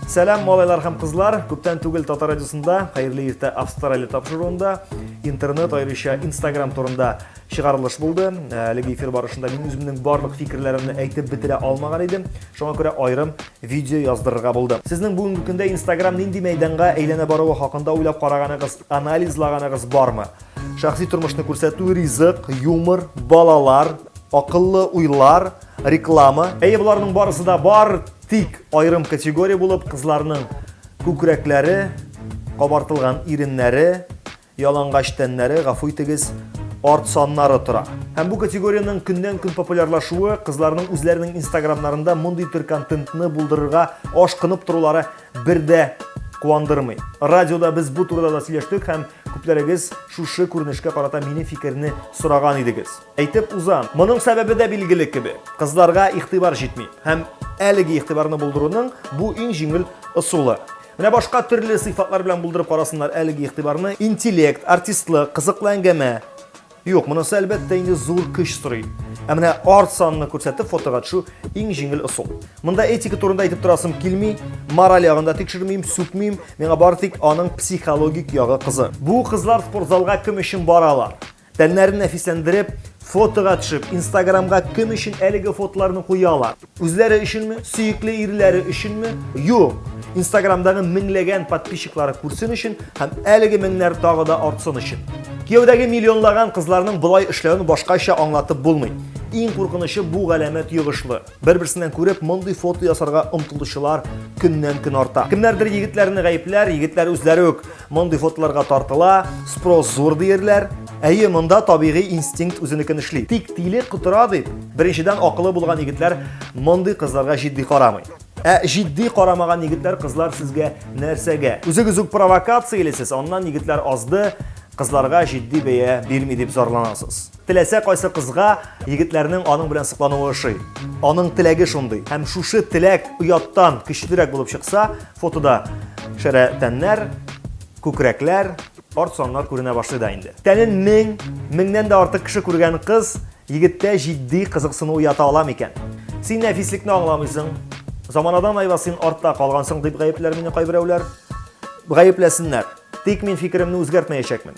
Сәлам, малайлар һәм кызлар! Күптән түгел Татар радиосында Хәерле иртә Австралия тапшыруында интернет аеруча Instagram турында чыгарылыш булды. Э, әлеге эфир барышында мин үземнең барлык фикерләремне әйтеп бетерә алмаган идем. Шуңа күрә айрым видео яздырырга булдым. Сезнең бүгенге көндә Instagram нинди мәйданга әйләнә баруы хакында уйлап караганыгыз, анализлаганыгыз бармы? Шәхси тормышны күрсәтү, ризык, юмор, балалар, акыллы уйлар, реклама. Әйе, боларның барысы да бар. Тик аерым категория булып кызларның күкрәкләре, кабартылган иреннәре, ялангач тәннәре, гафу итегез, арт саннары тора. Һәм бу категориянең көннән-көн популярлашуы кызларның үзләренең инстаграмнарында мондый төр контентны булдырырга ашкынып торулары бер дә куандырмый. Радиода без бу турыда да сөйләштек һәм күпләрегез шушы күренешкә карата минем фикерне сораган идегез. Әйтеп узам, моның сәбәбе дә билгеле кебек. Кызларга игътибар җитми һәм әлеге игътибарны булдыруның бу иң җиңел ысулы. Менә башка төрле сыйфатлар белән булдырып карасыннар әлеге игътибарны. Интеллект, артистлык, кызыклы әңгәмә. Юк, монысы әлбәттә инде зур көч сорый. Ә менә арт санны күрсәтеп фотога төшү иң җиңел ысул. Монда этика турында әйтеп торасым килми, мораль ягында тикшермим, сүкмим, миңа бары тик аның психологик ягы кызы. Бу кызлар спортзалга кем өчен баралар? Тәннәрен нәфисләндереп, фотога төшеп, инстаграмга кем өчен әлеге фотоларны куялар? Үзләре өченме? Сөекле ирләре өченме? Юк! Инстаграмдагы меңләгән подписчиклары күрсен өчен һәм әлеге меңнәр тагы да артсын өчен. Кияүдәге миллионлаган кызларның болай эшләвен башкача аңлатып булмый. Иң куркынычы бу галәмәт йогышлы. Бер-берсеннән күреп, мондый фото ясарга омтылучылар көннән-көн арта. Кемнәрдер егетләрне гаепләр, егетләр үзләре үк мондый фотоларга тартыла, спрос зур диерләр. Әйе, монда табигый инстинкт үзенекен эшли. Тик тиле котыра дип, беренчедән акылы булган егетләр мондый кызларга җитди карамый. Ә җитди карамаган егетләр, кызлар сезгә нәрсәгә? Үзегез үк провокациялисез, аннан егетләр азды, кызларга җитди бәя бирми дип зарланасыз. Теләсә кайсы кызга егетләрнең аның белән соклануы ошый. Аның теләге шундый. Һәм шушы теләк ояттан көчлерәк булып чыкса, фотода шәрә тәннәр, күкрәкләр, арт саннар күренә башлый да инде. Тәнен мең, меңнән дә артык кеше күргән кыз егеттә җитди кызыксыну уята ала микән? Син нәфислекне аңламыйсың, заманадан айва син артта калгансың дип гаепләр мине кайберәүләр. Гаепләсеннәр. Тик мин фикеремне үзгәртмәячәкмен.